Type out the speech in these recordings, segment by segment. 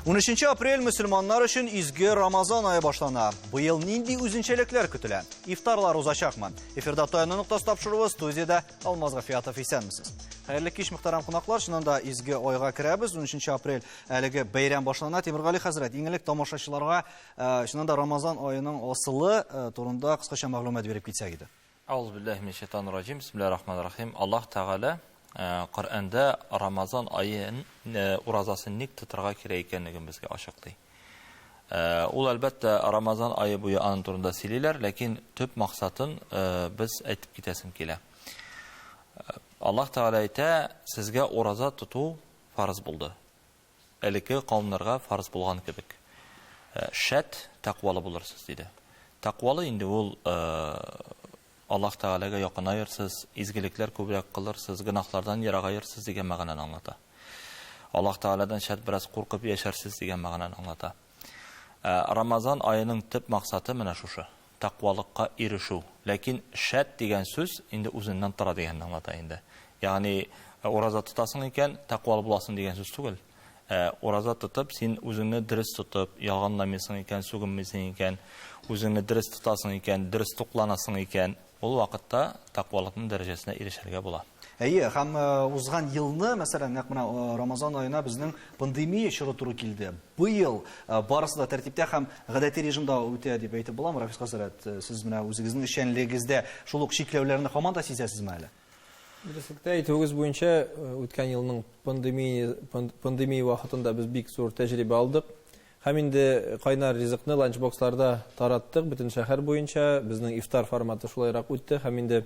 13 апрель мөселманнар өчен изге Рамазан айы башлана. Быел нинди үзенчәлекләр көтелә? Ифтарлар узачакмы? Эфирда Таяны ноктасы тапшыруы студиядә Алмаз Гафиятов исәнмесез. Хәерле кич мөхтәрәм кунаклар, чыннан да изге айга керәбез. 13 апрель әлеге бәйрәм башлана. Тимиргали хәзрәт, иң элек тамашачыларга Э, чыннан да рамазан аеның асылы э, турында кыскача мәгълүмат биреп китсәк иде Ауз билләһи мин шайтан раҗим бисмилләһи рахман рахим аллаһ тәгалә э, коръәндә рамазан аен уразасын ник тотарга кирәк икәнлеген безгә ачыклый ул әлбәттә рамазан айы буе аның турында сөйлиләр ләкин төп максатын без әйтеп китәсем килә аллаһ тәгалә әйтә сезгә ураза тоту фарыз булды Элекеге кавемнәргә фарз булган кебек, Шәт, тәкъвалы булырсыз, диде. Тәкъвалы инде ул, Аллаһ Тәгаләгә якынаерсыз, изгелекләр күбрәк кылырсыз, гөнаһлардан ерагаерсыз дигән мәгънәне аңлата. Аллаһ Тәгаләдән шәт бераз куркып яшәрсез дигән мәгънәне аңлата. Ә Рамазан аеның төп максаты менә шушы, тәкъвалыкка ирешү. Ләкин шәт дигән сүз инде үзеннән тора дигәнне аңлата инде. Ягъни ураза тотасың икән, тәкъвалы буласың дигән сүз түгел. Ә ураза тотып, син үзеңне дөрес тотып, ялганламыйсың икән, сүгенмисең икән, үзеңне дөрес тотасың икән, дөрес тукланасың икән, Ул вакытта тәкъвалыкның дәрәҗәсенә ирешергә була. Әйе, һәм узган елны, мәсәлән, нәкъ менә Рамазан аена безнең пандемия чоры туры килде. Быел барысы да тәртиптә һәм гадәти режимда үтә дип әйтеп буламы, Рафис хәзрәт? Сез менә үзегезнең эшчәнлегегездә шул ук чикләүләрне һаман да сизәсезме әле? Дөреслектә әйтүегез буенча, үткән елның пандемия вакытында без бик зур тәҗрибә алдык. Һәм инде кайнар ризыкны ланчбоксларда тараттык бөтен шәһәр буенча. Безнең ифтар форматы шулайрак үтте һәм инде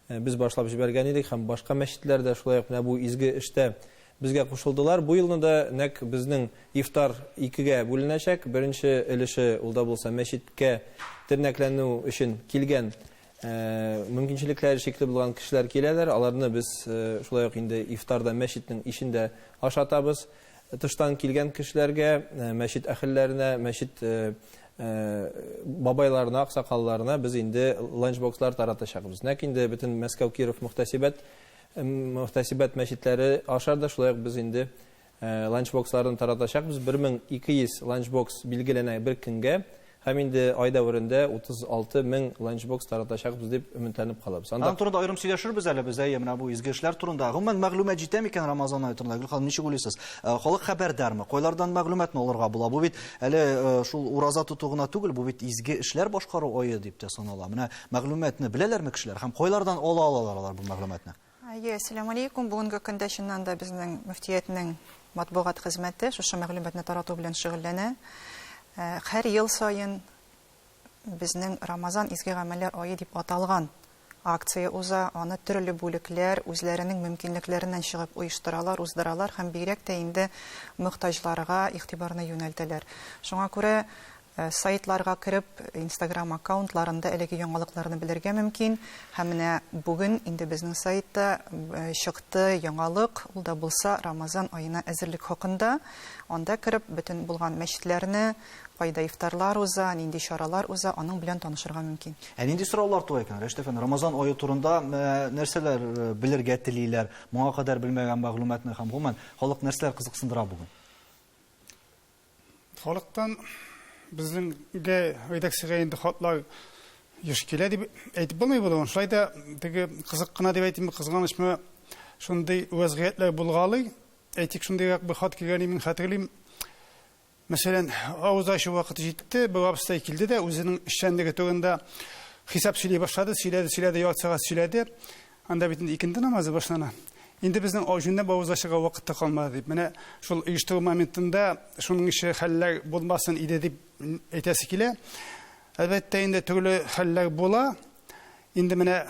без башлап җибәргән идек һәм башка мәчетләр дә шулай ук менә бу изге эштә безгә кушылдылар. Бу елны да нәкъ безнең ифтар икегә бүленәчәк. Беренче өлеше ул да булса мәчеткә тернәкләнү өчен килгән мөмкинчелекләре чикле булган кешеләр киләләр. Аларны без шулай ук инде ифтарда мәчетнең ишендә ашатабыз. Тыштан килгән кешеләргә, мәчет әхелләренә, мәчет бабайларына, аксакалларына без инде ланчбокслар таратачакбыз. Нәкъ инде бөтен Мәскәү, Киров мөхтәсибәт мөхтәсибәт мәчетләре аша да шулай ук без инде Ланчбоксларны таратачакбыз, 1200 ланчбокс билгеләнә бер көнгә һәм инде ай дәверендә 36 мең ланчбокс таратачакбыз дип өметләнеп калабыз. Аның турында аерым сөйләшербез әле без, әйе, менә бу изге эшләр турында. Гомумән, мәгълүмат җитә микән Рамазан ае турында? Гөл ханым, ничек уйлыйсыз? Халык хәбәрдармы? Кайлардан мәгълүматны алырга була? Бу бит әле шул ураза тоту гына түгел, бу бит изге эшләр башкару ае дип тә санала. Менә мәгълүматны беләләрме кешеләр һәм кайлардан ала алалар алар бу мәгълүматны? Әйе, әссәламү алейкум. Бүгенге көндә чыннан да безнең мөфтиятнең матбугат хезмәте шушы мәгълүматны тарату белән шөгыльләнә. Һәр ел саен безнең Рамазан изге гамәлләр ае дип аталган акция уза, аны төрле бүлекләр үзләренең мөмкинлекләреннән чыгып оештыралар, уздыралар һәм бигрәк тә инде мохтаҗларга игътибарны юнәлтәләр. Шуңа күрә Сайтларга кереп, Инстаграм аккаунтларында әлеге яңалыкларны белергә мөмкин. Һәм менә бүген инде безнең сайтта чыкты яңалык, ул да булса Рамазан аена әзерлек хакында. Анда кереп, бөтен булган мәчетләрне, кайда ифтарлар уза, нинди чаралар уза, аның белән танышырга мөмкин. Ә нинди сораулар туа икән, Рәшит әфәнде? Рамазан ае турында нәрсәләр белергә телиләр, моңа кадәр белмәгән мәгълүматны һәм гомумән, халык нәрсәләр кызыксындыра бүген? Халыктан безнеңгә редакциягә инде хатлар еш килә дип әйтеп булмый булуын. Шулай да теге кызык кына дип әйтимме, кызганычмы, шундый вәзгыятьләр булгалый. Әйтик, шундыйрак бер хат килгән мин хәтерлим. Мәсәлән, авыз ачу вакыты җитте, бер абыстай килде дә үзенең эшчәнлеге турында хисап сөйли башлады, сөйләде, сөйләде, ярты сәгать сөйләде. Анда бит инде икенде намазы башлана. Инде безнең аҗунны бавызга чыга вакыт та калмады дип, менә шул оештыру моментында шуның ише хәлләр булмасын иде дип әйтәсе килә. Әлбәттә, инде төрле хәлләр була. Инде менә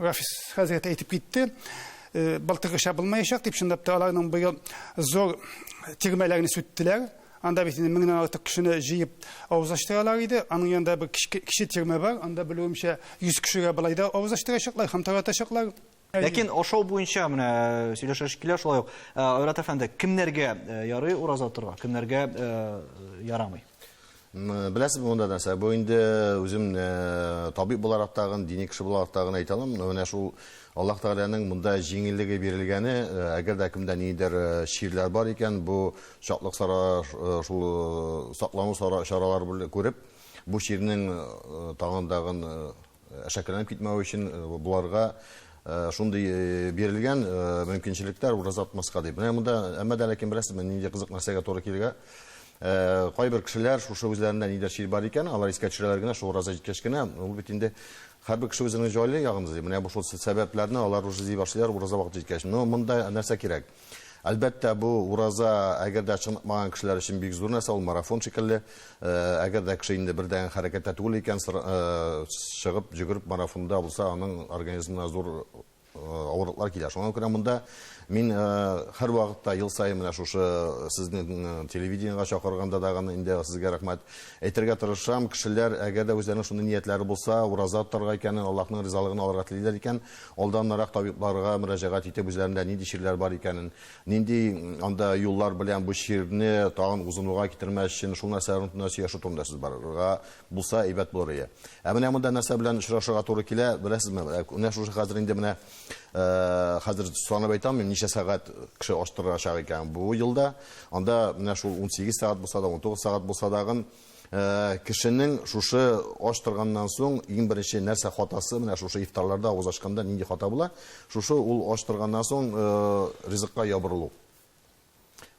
Рафис хәзрәт әйтеп китте, былтыргыча булмаячак дип, чынлап та аларның быел зур тирмәләрне сүттеләр. Анда бит инде меңнән артык кешене җыеп авыз ачтыралар иде. Аның янында бер кече тирмә бар. Анда белүемчә 100 кешегә болай да авыз ачтырачаклар һәм таратачаклар. Ләкин ашау буенча менә э, сөйләшәш килә шулай ук. Э, Айрат әфәнде, кемнәргә э, ярый ураза торга, кемнәргә ярамый? Беләсез монда нәрсә? Бу инде үзем табиб буларак тагын, дини кеше буларак тагын әйтә алам. Менә шул Аллаһ Тәгаләнең монда җиңеллеге бирелгәне, әгәр дә кемдә ниндидер чирләр бар икән, бу чаклык сара, шул саклану сара чаралары белән күреп, бу чирнең тагын-тагын әшәкеләнеп китмәве өчен боларга шундый бирелгән мөмкинчелекләр ураза тотмаска дип. Менә монда, әмма дә ләкин беләсезме, нинди кызык нәрсәгә туры килгә? Кайбер кешеләр шушы үзләрендә ниндидер чир бар икән, алар искә төшерәләр генә, шул ураза җиткәч кенә, ул бит инде Хәрбер кеше үзеңне җайлы ягын эзли, менә бу шул сәбәпләрне алар уже эзли башлыйлар ураза вакыты җиткәч. Но монда нәрсә кирәк? Әлбәттә, бу ураза, әгәр дә чыныкмаган кешеләр өчен бик зур нәрсә, ул марафон шикелле. Әгәр дә кеше инде бердәнге хәрәкәттә түгел икән, чыгып, йөгереп марафонда булса, аның организмына зур авырлыклар килә. Шуңа күрә монда мин һәрвакытта ел саен менә шушы сезнең телевидениегә чакырганда да гына инде сезгә рәхмәт әйтергә тырышам. Кешеләр, әгәр дә үзләренең шундый ниятләре булса, ураза тотарга икәнен, Аллаһның ризалыгын алырга телиләр икән, алданнанрак табибларга мөрәҗәгать итеп, үзләрендә нинди чирләр бар икәнен, нинди анда юллар белән бу чирне тагын узынуга китермәс өчен шул нәрсәләр турында сөйләшү турында сүз барырга Булса әйбәт булыр ие. Ә менә монда нәрсә белән очрашырга туры килә, беләсезме? Ә, Менә шушы хәзер инде менә э, хәзер санап әйтә алмыйм, ничә сәгать кеше аштырачак икән бу елда. Анда менә шул 18 сәгать булса да, 19 сәгать булса дагын э, кешенең шушы ач торганнан соң иң беренче нәрсә хатасы менә шушы ифтарларда авыз ачканда нинди хата була? Шушы ул ач торганнан соң э, ризыкка ябырылу.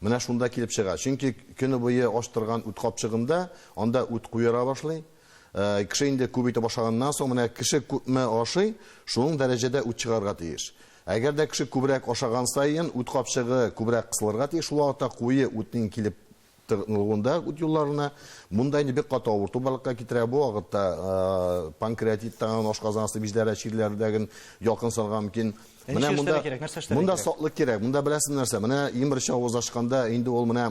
Менә шунда килеп чыга. Чөнки көне буе ач торган үт капчыгында, анда үт куера башлый. Кеше инде күп итеп ашаганнан соң, менә кеше күпме ашый, шуның дәрәҗәдә үт чыгарга тиеш. Әгәр дә кеше күбрәк ашаган саен, үт капчыгы күбрәк кысылырга тиеш, шул вакытта куе үтнең килеп тыгнылуында үт юлларына. Монда инде бик каты авырту барлыкка китерә. Бу вакытта панкреатиттан, ашказан асты биҗләре чирләрдәген якын салга мөмкин. Менә монда монда саклык кирәк. Монда беләсез нәрсә? Менә иң беренче авыз ачканда инде ул менә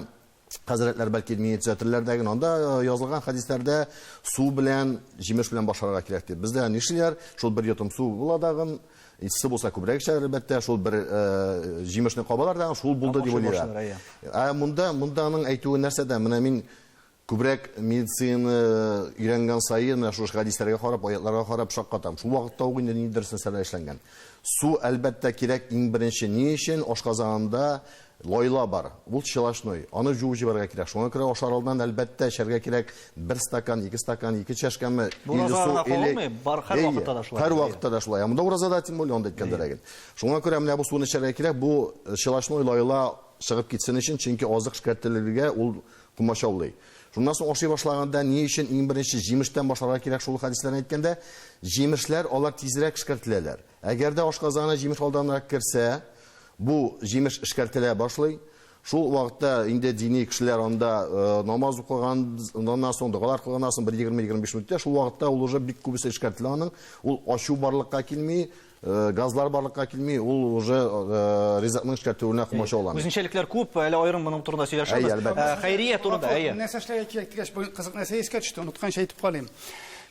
хәзрәтләр бәлки мине төзәтерләр дә генә. Анда язылган хәдисләрдә су белән, җимеш белән башларга кирәк дип. Бездә нишлиләр? Шул бер йотым су була дагын, Икесе булса күбрәк эшләр, әлбәттә, шул бер җимешне кабалар да, шул булды дип уйлыйлар. Ә монда, монда аның әйтүе нәрсәдә? Менә мин күбрәк медицина өйрәнгән саен, менә шушы хәдисләргә карап, аятларга карап шаккатам. Шул вакытта ук инде нидер нәрсәләр эшләнгән. Су, әлбәттә, кирәк иң беренче ни өчен? Ашказанында Лайла бар, ул челошной, аны җуып җибәрергә кирәк. Шуңа күрә ашар алдыннан, әлбәттә, эчәргә кирәк бер стакан, ике стакан, ике чәшкәме, Бу или уразага су, гына или... кагылмый, бар, һәр Әйе, вакытта да шулай. һәр вакытта да шулай. Ә монда уразада, тем более, анда әйткәндә ләгел. Шуңа күрә менә бу суны эчәргә кирәк, бу челошной лайла чыгып китсен өчен, чөнки азык эшкәртелергә ул комачаулый. Шуннан соң ашый башлаганда ни өчен иң беренче җимештән башларга кирәк шул хәдисләрне әйткәндә? Җимешләр, алар тизрәк эшкәртеләләр. Әгәр дә ашказаны җимеш алданрак керсә, бу җимеш эшкәртелә башлый. Шул вакытта инде дини кешеләр анда намаз укыганнан соң, догалар кылганнан соң бер 20-25 минуттә шул вакытта ул уже бик күбесе эшкәртелә аның. Ул ачу барлыкка килми, газлар барлыкка килми, ул уже ризыкның эшкәртелүенә комачауламый. Үзенчәлекләр күп, әле аерым моның турында сөйләшербез. Әйе, әлбәттә. Хәйрия турында, әйе. Нәрсә эшләргә кирәк дигәч, бер кызык нәрсә искә төште, онытканчы әйтеп калыйм.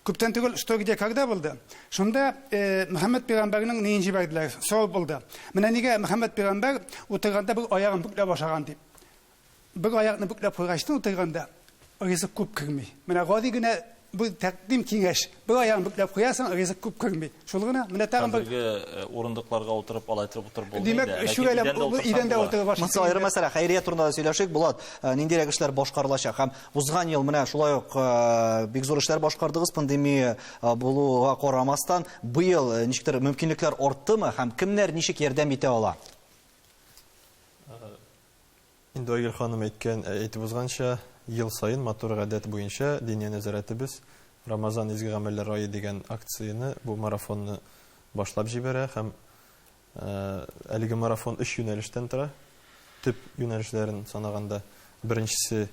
Күптән түгел Что. Где. Когда. булды. Шунда Мөхәммәд пәйгамбәрнең ниен җибәрделәр? Сорау булды. Менә нигә Мөхәммәд пәйгамбәр утырганда бер аягын бүкләп ашаган дип. Бер аякны бүкләп куйгачтан утырганда ризык күп керми. Менә гади генә бу тәкъдим киңәш. Бер аягын бүкләп куясың, ризык күп керми. Шул гына. Менә тагын бер. Хәзерге урындыкларга утырып, алай итеп утырып булмый да. Димәк, өч идәндә утырып ашыйсы. Монысы аерым мәсьәлә. Хәйрия турында да сөйләшик, Булат. Ниндирәк эшләр башкарылачак һәм Узган ел менә шулай ук э, бик зур эшләр башкардыгыз пандемия э, булуга карамастан. Быел э, ничектер мөмкинлекләр арттымы һәм кемнәр ничек ярдәм итә ала? Инде Айгөл ханым әйткән, әйтеп узганча, ел саен матур гадәт буенча Диния нәзарәтебез Рамазан изге гамәлләр ае дигән акцияне, бу марафонны башлап җибәрә һәм Әлеге марафон өч юнәлештән тора. Төп юнәлешләрен санаганда, беренчесе,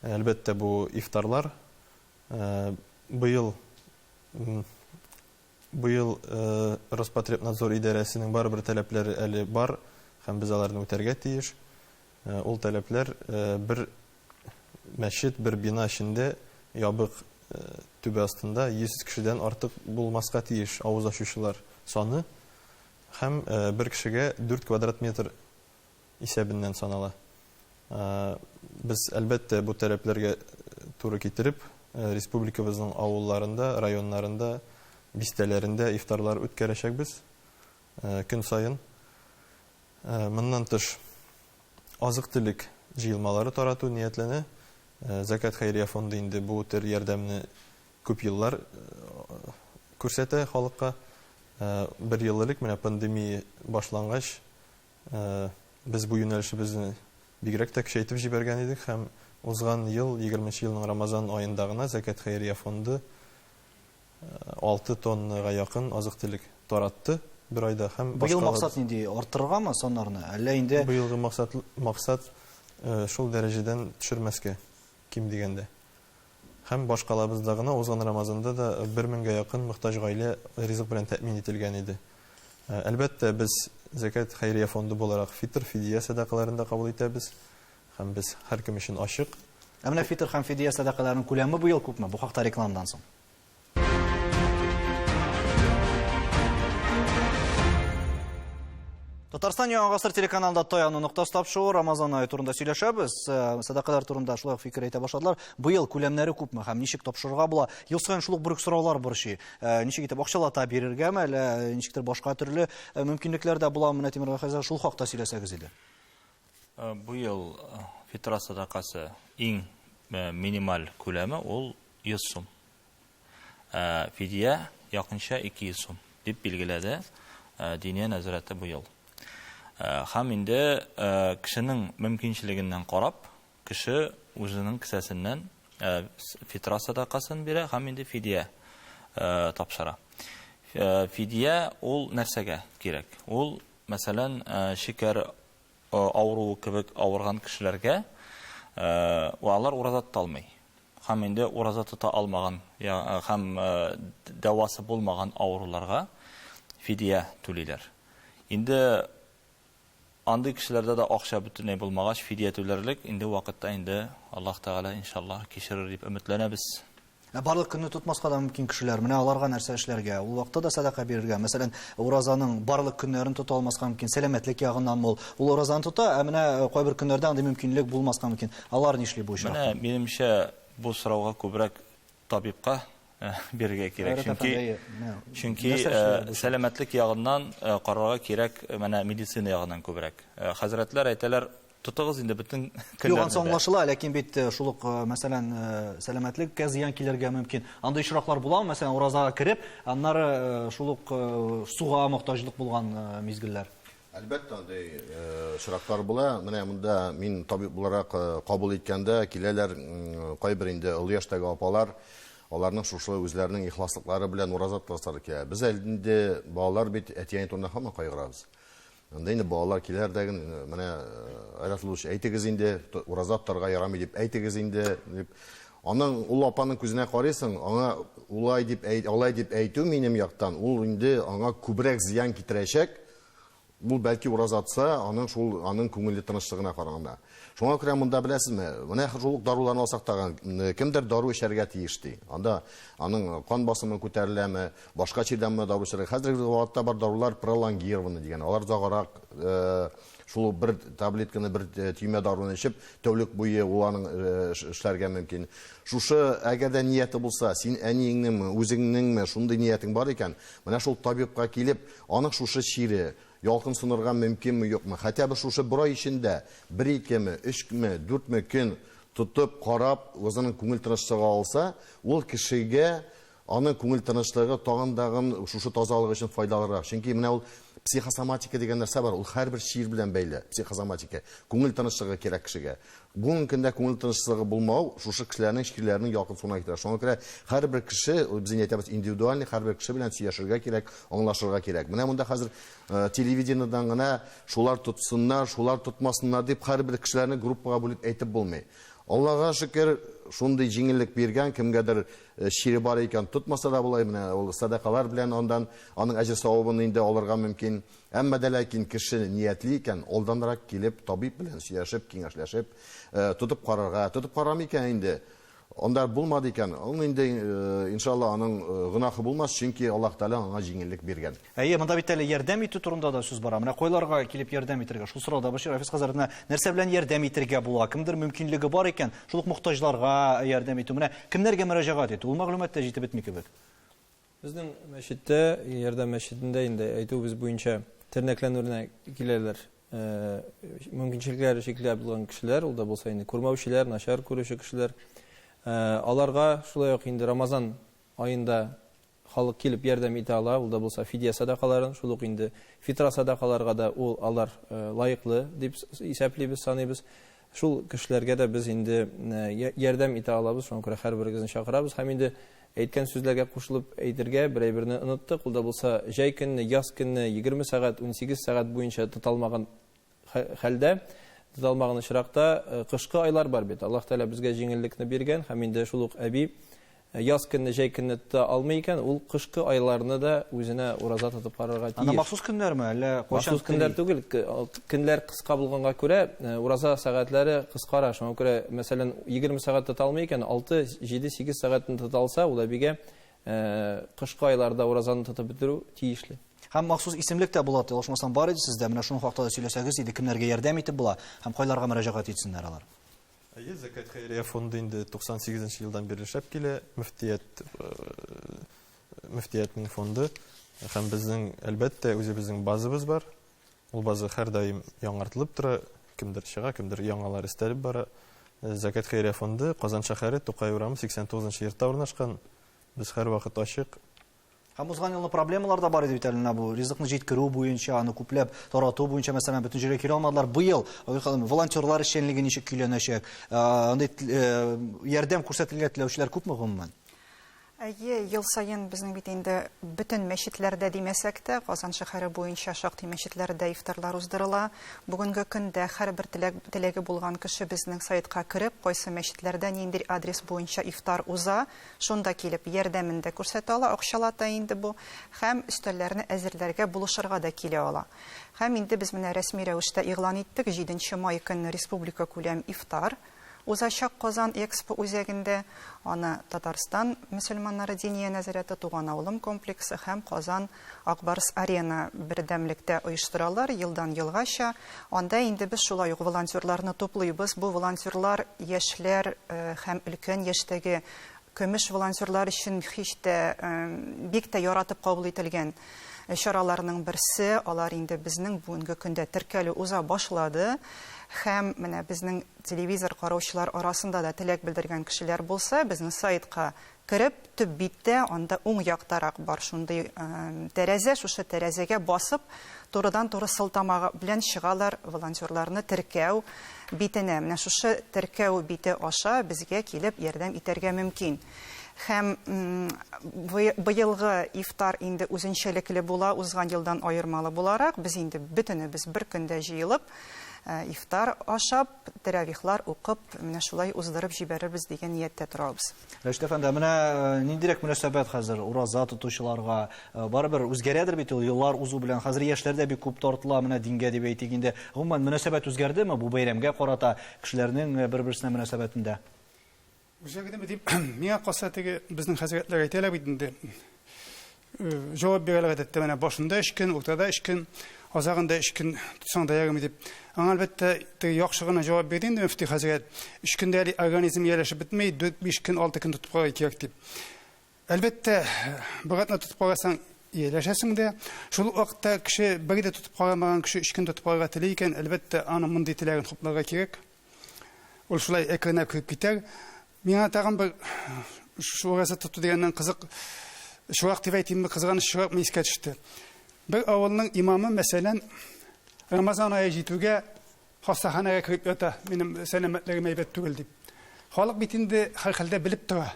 әлбәттә, бу ифтарлар. Быел быел Роспотребнадзор идарәсенең барыбер таләпләре әле бар һәм без аларны үтәргә тиеш. Ул таләпләр бер Мәчет бер бина эчендә, ябык түбә астында 100 кешедән артык булмаска тиеш авыз ачучылар саны һәм бер кешегә 4 квадрат метр исәбеннән санала. Без, әлбәттә, бу таләпләргә туры китереп, республикабызның авылларында, районнарында, бистәләрендә ифтарлар үткәрәчәкбез. көн саен. Моннан тыш, азык-төлек җыелмалары тарату ниятләнә. Зәкят хәйрия фонды инде бу төр ярдәмне күп еллар күрсәтә халыкка. Бер ел элек, менә пандемия башлангач, без бу юнәлешебезне бигрәк тә көчәйтеп җибәргән идек һәм узган ел, егерменче елның Рамазан аенда гына Зәкят хәйрия фонды, Алты тоннага якын азык-төлек таратты бер айда һәм башкалар. Быел максат нинди, арттырыргамы саннарны, әллә инде? Быелгы максат, максат шул дәрәҗәдән төшермәскә, ким дигәндә. Һәм башкалабызда гына узган Рамазанда да бер меңгә якын мохтаҗ гаилә ризык белән тәэмин ителгән иде. Әлбәттә, без Зәкят хәйрия фонды буларак фитр, фидия сәдакаларын да кабул итәбез. Һәм без һәркем өчен ачык. Ә менә фитыр һәм фидия сәдакаларының күләме бу ел күпме? Бу хакта рекламадан соң. Татарстан Яңа гасыр телеканалында Таяну ноктасы тапшуы Рамазан ае турында сөйләшәбез. Э, сәдакалар турында шулай фикер әйтә башладылар. Быел күләмнәре күпме һәм ничек тапшырырга була? Ел саен шул ук бер сораулар борчый. Э, ничек итеп акчалата бирергәме, әллә э, ничектер башка төрле мөмкинлекләр дә була? Менә Тимер хәзер шул хакта сөйләсәгез иде. Быел фитра садакасы иң минималь күләме ул 100 сум. Фидия якынча 200 сум дип билгеләде Диния нәзарәте быел. Хәм инде кешенең мөмкинчелегеннән карап, кеше үзенең кесәсеннән фитра садакасын бирә һәм инде фидия тапшыра. Фидия ул нәрсәгә кирәк? Ул Мәсәлән, шикәр авыруы кебек авырган кешеләргә, вә алар ураза тота алмый, һәм инде ураза тота алмаган һәм дәвасы булмаган авыруларга фидия түлиләр. Инде андый кешеләрдә дә акча бөтенләй булмагач, фидия түләрлек инде вакытта инде Аллаһ Тәгалә, иншаллаһ, кичерер дип өметләнәбез. Ә барлык көнне тотмаска да мөмкин кешеләр. Менә аларга нәрсә эшләргә? Ул вакытта да садака бирергә. Мәсәлән, уразаның барлык көннәрен тота алмаска мөмкин, сәламәтлек ягыннан мул. Ул уразаны тота, ә менә э, кайбер көннәрдә андый мөмкинлек булмаска мөмкин. Алар нишли бу очракта? Менә минемчә бу сорауга күбрәк табибка э, бирергә кирәк. Чөнки чөнки э, сәламәтлек ягыннан карарга кирәк менә медицина ягыннан күбрәк. Хәзрәтләр әйтәләр, Тотыгыз инде бөтен көннәрне. Юк, ансы аңлашыла, ләкин бит э, шул ук, э, мәсәлән, э, сәламәтлеккә зыян килергә мөмкин. Андый очраклар буламы, мәсәлән, уразага кереп, аннары шул ук суга мохтаҗлык булган мизгелләр? Әлбәттә, андый очраклар була. Менә монда мин табиб буларак кабул иткәндә киләләр кайбер инде олы яшьтәге апалар, аларның шушы үзләренең ихласлыклары белән ураза тотасылары килә. Без әле инде балалар бит әти-әни турында һаман кайгырабыз. Анда инде балалар киләр дә инде, менә Айрат Лулович, әйтегез инде, ураза тотарга ярамый дип әйтегез инде, дип. Аның ул апаның күзенә карыйсың, аңа улай дип әйт, алай дип әйтү минем яктан, ул инде аңа күбрәк зыян китерәчәк. Ул бәлки ураза тотса, аның шул аның күңеле тынычлыгына караганда. Шуңа күрә монда беләсезме, менә шул ук даруларны алсак тагын, кемдер дару эчәргә тиеш ди. Анда аның кан басымы күтәреләме, Башка чирдә моны дару эчәргә. Хәзерге вакытта бар дарулар пролонгированный дигән. Алар озаграк шул бер таблетканы, бер төймә даруны эчеп, тәүлек буе ул аның эшләргә мөмкин. Шушы, әгәр дә нияте булса, син әниеңнеңме, үзеңнеңме шундый ниятең бар икән, менә шул табибка килеп, аның шушы чире, ялкын сынырга мөмкинме, юкмы, хәтта бер шушы бер ай эчендә бер-икеме, өчме, дүртме көн тотып, карап, үзенең күңел тынычлыгы алса, ул кешегә Аның күңел тынычлыгы тагын тагын шушы тазалык өчен файдалырак. Чөнки менә ул психосоматика дигән нәрсә бар, ул һәрбер чир белән бәйле, психосоматика. Күңел тынычлыгы кирәк кешегә. Бүгенге көндә күңел тынычлыгы булмау шушы кешеләрнең чирләренең якынсуына китерә. Шуңа күрә һәрбер кеше, без инде әйтәбез, индивидуальный, һәрбер кеше белән сөйләшергә кирәк, аңлашырга кирәк. Менә монда хәзер телевидениедән генә шулар тотсыннар, шулар тотмасыннар дип һәрбер кешеләрне группага бүлеп әйтеп булмый. Аллага шөкер, шундый җиңеллек биргән, кемгәдер Чире бар икән, тотмаса да була, менә ул сәдакалар белән андан аның әҗер-савабын инде алырга мөмкин. Әмма дә ләкин кеше ниятли икән, алданрак килеп, табиб белән сөйләшеп, киңәшләшеп, тотып карарга, тотып карамый икән инде, анда булмады икән, ул инде, иншалла, аның гөнаһы булмас, чөнки Аллаһы Тәгалә аңа җиңеллек биргән. Әйе, монда бит әле ярдәм итү турында да сүз бара. Менә койларга килеп ярдәм итергә. Шул сорау да башыр Рафис хәзрәтенә нәрсә белән ярдәм итергә була? Кемдер мөмкинлеге бар икән, шул ук мохтаҗларга ярдәм итү. Менә кемнәргә мөрәҗәгать итү? Ул мәгълүмат та җитеп бетми кебек. Безнең мәчеттә, Ярдәм мәчетендә инде әйтүебез буенча тернәкләнүенә киләләр. Э, мөмкинчелекләре чикле булган кешеләр, ул да булса инде күрмәүчеләр, начар күрүче кешеләр. Э, аларга шулай ук инде Рамазан аенда Халык килеп ярдәм итә ала, ул да булса фидия садакаларын, шул ук инде фитра садакаларга да ул, алар лаеклы дип исәплибез, саныйбыз. Шул кешеләргә дә без инде ярдәм итә алабыз, шуңа күрә һәрберегезне чакырабыз. Һәм инде әйткән сүзләргә кушылып әйтергә, бер әйберне оныттык, ул да булса җәй көнне, яз көнне, егерме сәгать, унсигез сәгать буенча тоталмаган хәлдә, тоталмаган очракта, кышкы айлар бар бит, Аллаһ Тәгалә безгә җиңеллекне биргән һәм инде шул ук әби яз көнне, җәй көнне тота алмый икән, ул кышкы айларны да үзенә ураза тотып карарга тиеш. Аны махсус көннәрме, әллә кайчан? Махсус көннәр түгел, көннәр кыска булганга күрә, ураза сәгатьләре кыскара, шуңа күрә, мәсәлән, 20 сәгать тота алмый икән, 6, 7, 8 сәгатен тота алса, ул әбигә Ә кышкы айларда уразаны тотып бетерү тиешле. Һәм махсус исемлек тә була, ошмасам бар иде сездә, менә шуның хакта да сөйләсәгез иде, кемнәргә ярдәм итеп була һәм кайларга мөрәҗәгать итсеннәр алар? Әйе, Зәкәт хәйрия фонды инде 98 нче елдан бирле эшләп килә, мөфтият, э, мөфтиятнең фонды һәм безнең, әлбәттә, үзебезнең базабыз бар. Ул база һәрдаим яңартылып тора, кемдер чыга, кемдер яңалар өстәлеп бара. Зәкәт хәйрия фонды Казан шәһәре, Тукай урамы, 89 нчы йортта урнашкан. Без һәрвакыт ачык. Һәм узган елны проблемалар да бар иде бит әле менә бу ризыкны җиткерү буенча, аны күпләп тарату буенча, мәсәлән, бөтен җиргә килә алмадылар. Быел Айгөл ханым, волонтерлар эшчәнлеге ничек көйләнәчәк? Андый ярдәм күрсәтергә теләүчеләр күпме гомумән? Әйе, ел саен безнең бит инде бөтен мәчетләрдә димәсәк тә, Казан шәһәре буенча шактый мәчетләрдә ифтарлар уздырыла. Бүгенге көндә һәрбер теләк теләге булган кеше безнең сайтка кереп, кайсы мәчетләрдә ниндир адрес буенча ифтар уза, шунда килеп, ярдәмен дә күрсәтә ала, акчалата инде бу, һәм өстәлләрне әзерләргә, булышырга да килә ала. Һәм инде без менә рәсми рәвештә игълан иттек, җиденче май көнне республикакүләм ифтар. Узачак Казан Экспо үзәгендә аны Татарстан мөселманнары Диния нәзарәте Туган авылым комплексы һәм Казан Ак Барс Арена бердәмлектә оештыралар, елдан елгача анда инде без шулай ук волонтерларны туплыйбыз, бу волонтерлар яшьләр һәм өлкән яшьтәге Көмеш волонтерлар өчен һич тә бик тә яратып кабул ителгән чараларның берсе, алар инде безнең бүгенге көндә теркәлү уза башлады һәм менә безнең телевизор караучылар арасында да теләк белдергән кешеләр булса, безнең сайтка кереп, төп биттә, анда уң яктарак бар шундый тәрәзә, шушы тәрәзәгә басып, турыдан-туры сылтама белән чыгалар волонтерларны теркәү битенә, менә шушы теркәү бите аша безгә килеп ярдәм итәргә мөмкин. Һәм быелгы ифтар инде үзенчәлекле була, узган елдан аермалы буларак, без инде бөтенебез бер көндә җыелып, ифтар ашап, тәравихлар укып, менә шулай уздырып җибәрербез дигән нияттә торабыз. Рәшит әфәнде, ә менә э, ниндирәк мөнәсәбәт хәзер ураза тотучыларга? Э, барыбер үзгәрәдер бит ул еллар узу белән. Хәзер яшьләр дә бик күп тартыла менә дингә дип әйтик инде. Гомумән мөнәсәбәт үзгәрдеме бу бәйрәмгә карата кешеләрнең э, бер-берсенә мөнәсәбәтендә? Үзгәрдеме дип, миңа калса теге безнең хәзрәтләр әйтәләр бит инде. Җавап бирәләр әдәттә, менә башында өч көн, уртада өч көн, азагында өч көн тотсаң да ярыймы дип. Аңа әлбәттә теге яхшы гына җавап бирде инде мөфти хәзрәт. Өч көндә әле организм ияләшеп бетми, дүрт-биш көн, алты көн тотып карарга кирәк дип. Әлбәттә, бер атна тотып карасаң, ияләшәсең дә. Шул ук вакытта кеше бер дә тотып карамаган кеше өч көн тотып карарга тели икән, әлбәттә, аның мондый теләген хупларга кирәк. Ул шулай экренә кереп китә. Миңа тагын бер шул газета тоту дигәннән кызык чурак дип әйтимме, кызганыч чуракмы искә төште. Бер авылның имамы, мәсәлән, Рамазан ае җитүгә хастаханәгә кереп ята, минем сәламәтлегем әйбәт түгел дип. Халык бит инде һәрхәлдә белеп тора.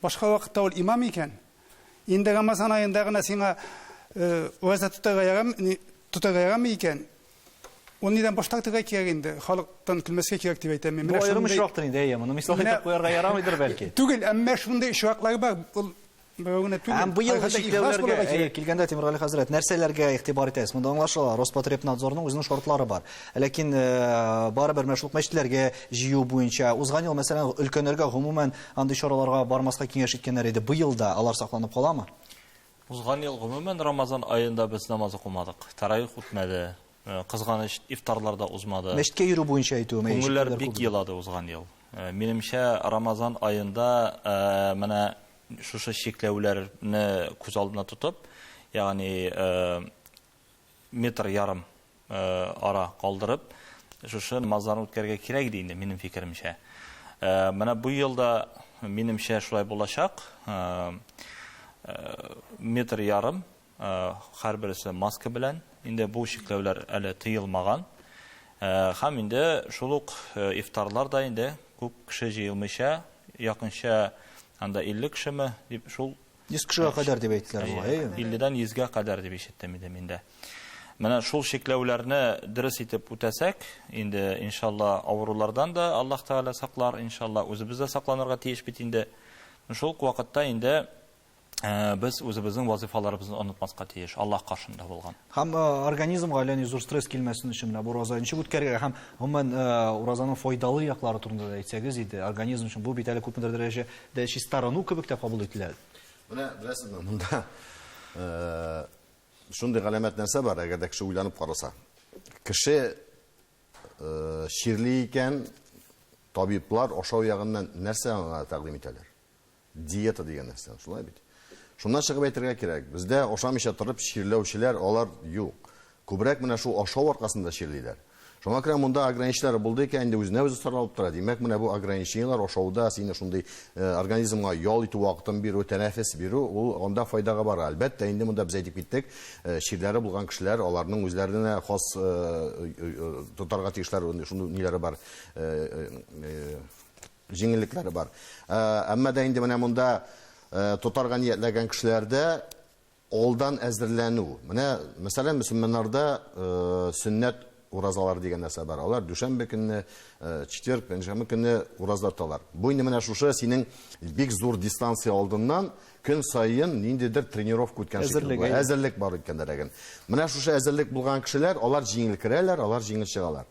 Башка вакытта ул имам икән. Инде Рамазан аенда гына сиңа ураза тотарга ярамы, тотарга ярамы икән? Ул нидән баш тартырга кирәк инде? Халыктан көлмәскә кирәк дип әйтәм мин. Бу аерым очрактыр инде, әйе, моны мисал итеп куярга ярамыйдыр бәлки. Түгел, әмма шундый очраклар бар. Ул берәү генә түгел. Һәм быел чикләүләргә, әйе, килгәндә Тимергали хәзрәт, нәрсәләргә игътибар итәсез? Монда аңлашыла, Роспотребнадзорның үзенең шартлары бар. Ләкин барыбер мәшрук мәчетләргә җыю буенча узган ел, мәсәлән, өлкәннәргә гомумән Андый чараларга бармаска киңәш иткәннәр иде. Быел да алар сакланып каламы? Узган ел гомумән Рамазан аенда без намаз укымадык. Таравих үтмәде. Э, кызганыч, ифтарлар да узмады. Мәчеткә йөрү буенча әйтүем. Күңелләр бик елады узган ел. Э, минемчә, Рамазан аенда э, менә шушы чикләүләрне күз алдына тотып, ягъни метр ярым ара калдырып, шушы намазларны үткәрергә кирәк иде инде, минем фикеремчә. Менә бу елда, минемчә, шулай булачак. Метр ярым, һәрбересе маска белән. Инде бу чикләүләр әле тыелмаган. Һәм инде шул ук ифтарлар да инде күп кеше җыелмыйча, якынча анда 50 кешеме, дип шул 100 кешегә кадәр дип әйттеләр бугай, әйеме? 50-дән 100-гә кадәр дип ишеттем инде мин дә. Менә шул чикләүләрне дөрес итеп үтәсәк, инде иншалла авырулардан да Аллаһ Тәгалә саклар, иншалла үзебез дә сакланырга тиеш бит инде. Шул ук вакытта инде э, без үзебезнең вазифаларыбызны онытмаска тиеш, Аллаһ каршында булган. Һәм э, организмга әллә ни зур стресс килмәсен өчен менә бу ураза ничек үткәрергә һәм гомумән э, уразаның файдалы яклары турында да әйтсәгез иде, организм өчен бу бит әле күпмедер дәрәҗә Дә чистарыну кебек тә кабул ителә. Менә беләсезме, монда шундый галәмәт нәрсә бар, әгәр дә кеше уйланып караса. Кеше чирли икән, табиблар ашау ягыннан нәрсә аңа тәкъдим итәләр? Диета дигән нәрсә, шулай бит. Шуннан чыгып әйтергә кирәк, бездә ашамыйча торып чирләүчеләр алар юк. Күбрәк менә шул ашау аркасында чирлиләр. Шуңа күрә монда ограничениеләр булды икән, инде үзенә-үзе саралып тора. Димәк, менә бу ограничениеләр ашауда сине шундый организмга ял итү вакытын бирү, тәнәфес бирү, ул анда файдага бара. Әлбәттә, инде монда без әйтеп киттек, чирләре булган кешеләр, аларның үзләренә хас тотарга тиешләр шундый ниләре бар, җиңеллекләре бар. Әмма дә инде менә монда тотарга ниятләгән кешеләрдә, Алдан әзерләнү. Менә, мәсәлән, мөселманнарда сөннәт уразалары дигән нәрсә бар. Алар дүшәмбе көнне, четверг, пәнҗшәмбе көнне ураза тоталар. Бу инде менә шушы синең бик зур дистанция алдыннан көн саен ниндидер тренировка үткән шикелле була. Әзерлек бар үткәннәргә. Менә шушы әзерлек булган кешеләр, алар җиңел керәләр, алар җиңел чыгалар.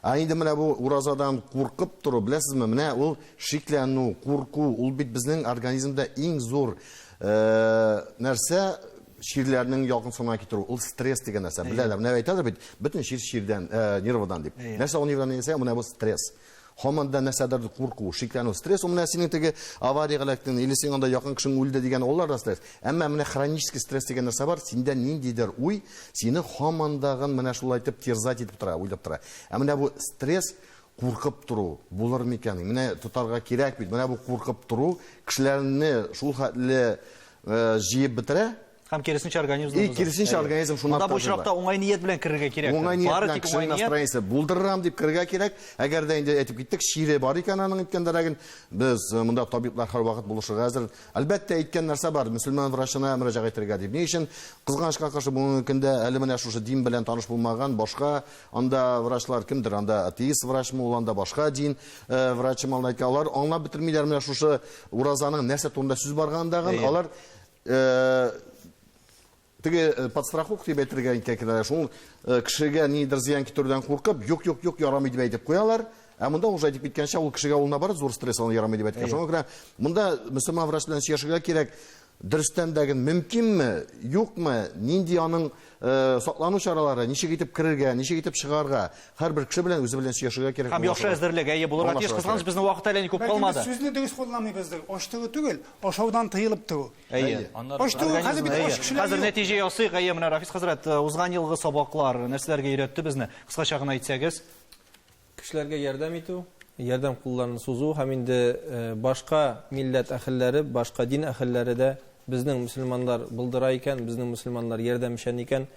Ә инде менә бу уразадан куркып тору, беләсезме, менә ул шикләнү, курку, ул бит безнең организмда иң зур э, нәрсә чирләрнең ягымсына китерү, ул стресс дигән нәрсә. Беләләр, менә әйтәләр бит, бөтен чир чирдән, э, нервыдан дип. Нәрсә ул нервыдан дисә, менә бу стресс. Һаман да нәрсәдер курку, шикләнү, стресс, ул менә синең теге авариягә эләктең, или синең анда якын кешең үлде дигән, алар да стресс. Әмма менә хронический стресс дигән нәрсә бар, синдә ниндидер уй сине һаман дагын менә шулай итеп терзать итеп тора, уйлап тора. Ә менә бу стресс, куркып тору, булыр микән? Менә тотарга кирәк бит. Менә бу куркып тору кешеләрне шул хәтле э, җыеп бетерә, Һәм киресенчә организм. И киресенчә организм шуннан тагын. Бу очракта уңай ният белән керергә кирәк. Уңай ният белән кешенең настроениясе булдырырам дип керергә кирәк. Әгәр дә инде әйтеп киттек, чире бар икән аның әйткәндәрәген, без э, монда табиблар һәрвакыт булышырга әзер. Әлбәттә, әйткән нәрсә бар, мөселман врачына мөрәҗәгать итәргә дип. Ни өчен? Кызганычка каршы бүгенге көндә әле менә шушы дин белән таныш булмаган башка анда врачлар кемдер, анда атеист врачмы ул, анда башка дин э, врачымы, алар аңлап бетермиләр менә шушы уразаның нәрсә турында сүз баргандагын, алар Э, теге э, подстраховка дип әйтергә икән кенә шул э, кешегә нидер зыян китерүдән куркып юк юк юк ярамый дип әйтеп куялар ә монда уже әйтеп киткәнчә ул кешегә ул наоборот зур стресс аны ярамый дип әйткән шуңа күрә монда мөселман врач белән сөйләшергә кирәк дөрестән дә мөмкинме юкмы нинди аның Э, саклану чаралары, ничек итеп керергә, ничек итеп чыгарга, һәрбер кеше белән үзе белән сөйләшергә кирәк. Һәм яхшы әзерлек әйе булырга тиеш. Кызганыч безнең вакыт әле күп калмады. Сүзне дөрес кулланмыйбыздыр. Ач туу түгел, ашаудан тыелып туу. Әйе. Ач туу хәзер бит ач кешеләр. Хәзер нәтиҗә ясыйк. Әйе, менә Рафис хәзрәт, э, узган елгы сабаклар нәрсәләргә өйрәтте безне? Кыскача гына әйтсәгез. кешеләргә ярдәм итү, ярдәм кулларын сузу һәм инде башка милләт әһелләре, башка дин әһелләре дә безнең мөселманнар булдыра икән, безнең мөселманнар ярдәмчән икән,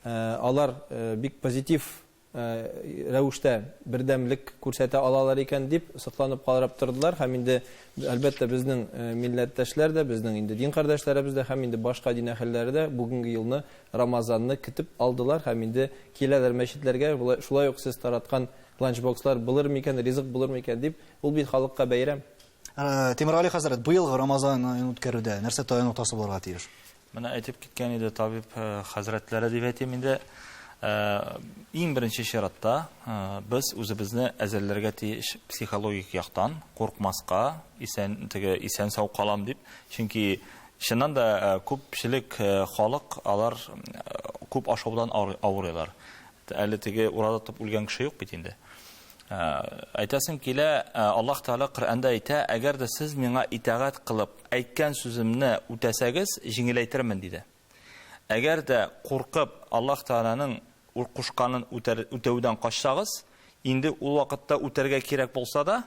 алар бик позитив рәвештә бердәмлек күрсәтә алалар икән дип сокланып карап тордылар һәм инде, әлбәттә, безнең милләттәшләр дә, безнең инде дин кардәшләребез дә һәм инде башка дин әһелләре дә бүгенге елны Рамазанны көтеп алдылар һәм инде киләләр мәчетләргә, болай, шулай ук сез тараткан ланчбокслар булыр микән, ризык булыр микән дип, ул бит халыкка бәйрәм. Тимергали хәзрәт, быелгы Рамазан аен үткәрүдә нәрсә таяну ноктасы булырга тиеш? Менә әйтеп киткән иде табиб хәзрәтләре дип әйтим инде. Иң беренче чиратта без үзебезне әзерләргә тиеш психологик яктан, куркмаска, исән, теге исән-сау калам дип, чөнки Чыннан да, күпчелек халык алар күп ашаудан авырыйлар. Әле теге ураза тотып үлгән кеше юк бит инде. Әйтәсем килә, Аллаһ Тәгалә Коръәндә әйтә, әгәр дә сез миңа итагать кылып, әйткән сүземне үтәсәгез, җиңеләйтермен, диде. Әгәр дә куркып, Аллаһ Тәгаләнең кушканын үтәүдән качсагыз, инде ул вакытта үтәргә кирәк булса да,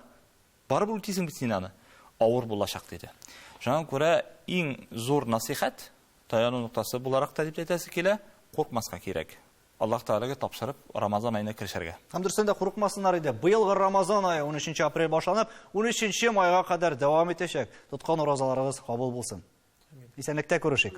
Барыбер үтисең бит син аны. Авыр булачак, диде. Шуңа күрә иң зур насыйхәт, таяну ноктасы буларак та дип әйтәсе килә, куркмаска кирәк. Аллаһ Тәгаләгә тапшырып, Рамазан аена керешергә. Һәм дөрестән дә курыкмасыннар иде. Быелгы Рамазан ае унөченче апрель башланып, унөченче майга кадәр дәвам итәчәк. Тоткан уразаларыгыз кабул булсын! Исәнлектә күрешик.